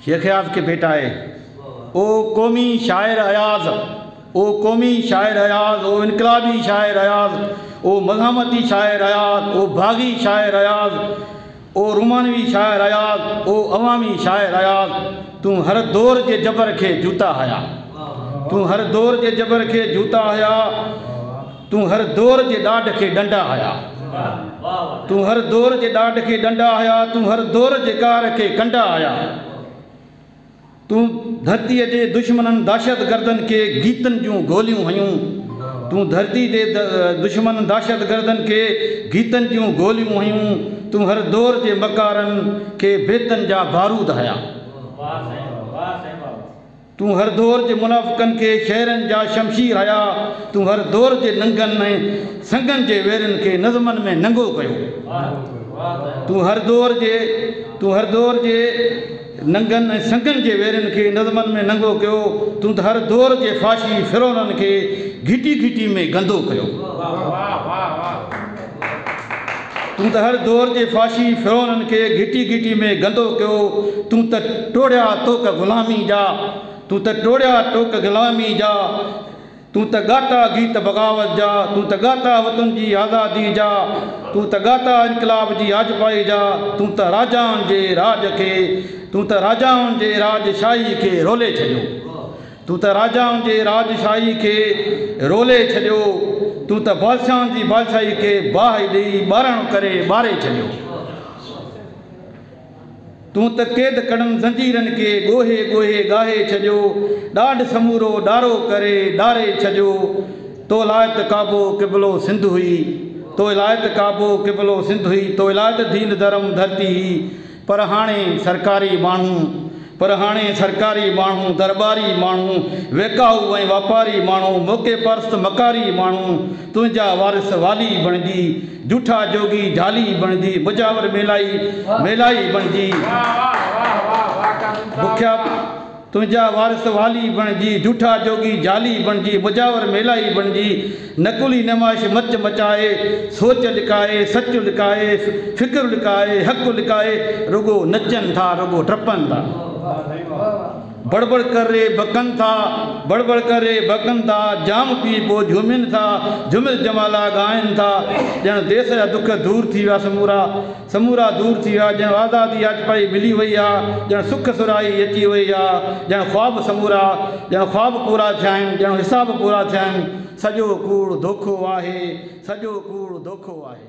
شيخ اياز کي ڀيٽ آهي. او قومي شاعر اياز او قومي شاعر اياز او انقلابي شاعر اياز او مزاحمتي شاعر اياز او باغي شاعر اياز او رومانوي شاعر اياز او عوامي شاعر اياز تون هر دور جي جبر کي جوتا هيا تون هر دور جي جبر کي جوتا هيا. تون هر دور جي ڏاڍ کي ڏنڊا هيا تون هر دور جي ڏاڍ کي ڏنڊا هيا تون هر دور جي ڪار کي ڪنڊا هيا تون ڌرتي جي دشمنن دهشت گردن کي گيتن جون گوليون هيون تون ڌرتي جي دشمنن دهشت گردن کي گيتن جون گوليون هيون تون هر دور جي مڪارن کي بيتن جا بارود هيا. تون هر دور جي منافقن کي شعرن جا شمشير هنيا، تون هر دور جي ننگن ۽ سنگن جي ويرين کي نظمن ۾ ننگو ڪيو. تون هر دور جي تون هر دور جي ننگن ۽ سنگن جي ويرين کي نظمن ۾ ننگو ڪيو، تون ته هر دور جي فاشي فرعونن کي گهٽي گهٽي ۾ گندو ڪيو. تون ته هر دور جي فحاشي فرعونن کي گهٽي گهٽي ۾ گندو ڪيو تون ته ٽوڙيا ٽوڪ غلامي جا تون ته ٽوڙيا ٽوڪ غلامي جا تون ته ڳاتا گيت بغاوت جا تون ته ڳاتا وطن جي آزادي جا تون ته ڳاتا انقلاب جي آجپائي جا تون ته راجائن جي راڄ کي تون ته راجائن جي راڄ شاهي کي رولي ڇڏيو تون ته راجائن جي راجشاهيء کي رولي ڇڏيو، تون ته بادشاهن جي بادشاهيء کي باهه ڏيئي ٻاراڻو ڪري ٻاري ڇڏيو. تون ته قيد ڪڙن زنجيرن کي ڳوهي ڳوهي ڳاهي ڇڏيو، ڏاڍ سمورو ڏارو ڪري ڏاري ڇڏيو. تو لاء ته ڪعبو قبلو سنڌ هئي، تو لاء ته ڪعبو قبلو سنڌ هئي، تو لاء ته دين ڌرم ڌرتي هئي، پر هاڻي سرڪاري ماڻهو پر هاڻي سرڪاري ماڻهو، درٻاري ماڻهو، ويڪاهو ۽ واپاري ماڻهو، موقعي پرست مڪاري ماڻهو، تنهنجا وارث والي بڻجي، جوٺا جوڳي جھالي بڻجي، مجاور ميلائي ميلائي بڻجي، بکيا. تنهنجا وارث والي بڻجي، جوٺا جوڳي جعلي بڻجي، مجاور ميلائي بڻجي، نقلي نمائش مچ مچائي، سوچ لڪائي، سچ لڪائي، فڪر لڪائي، حق لڪائي، رڳو نچن ٿا، رڳو ڊپن ٿا. بڙ بڙ ڪري بڪن ٿا، بڙ بڙ ڪري بڪن ٿا، جام پي پوء جهومين ٿا، جهوميل جمالا ڳائن ٿا، ڄڻ ديس جا دک دور ٿي ويا سمورا. سمورا دور ٿي ويا، ڄڻ آزادي اچ پئي ملي وئي آ، ڄڻ سک سرهائي اچي وئي آ، ڄڻ خواب سمورا، ڄڻ خواب پورا ٿيا آهن، ڄڻ حساب پورا ٿيا آهن، سڄو ڪوڙ ڌوکو آهي، سڄو ڪوڙ ڌوکو آهي.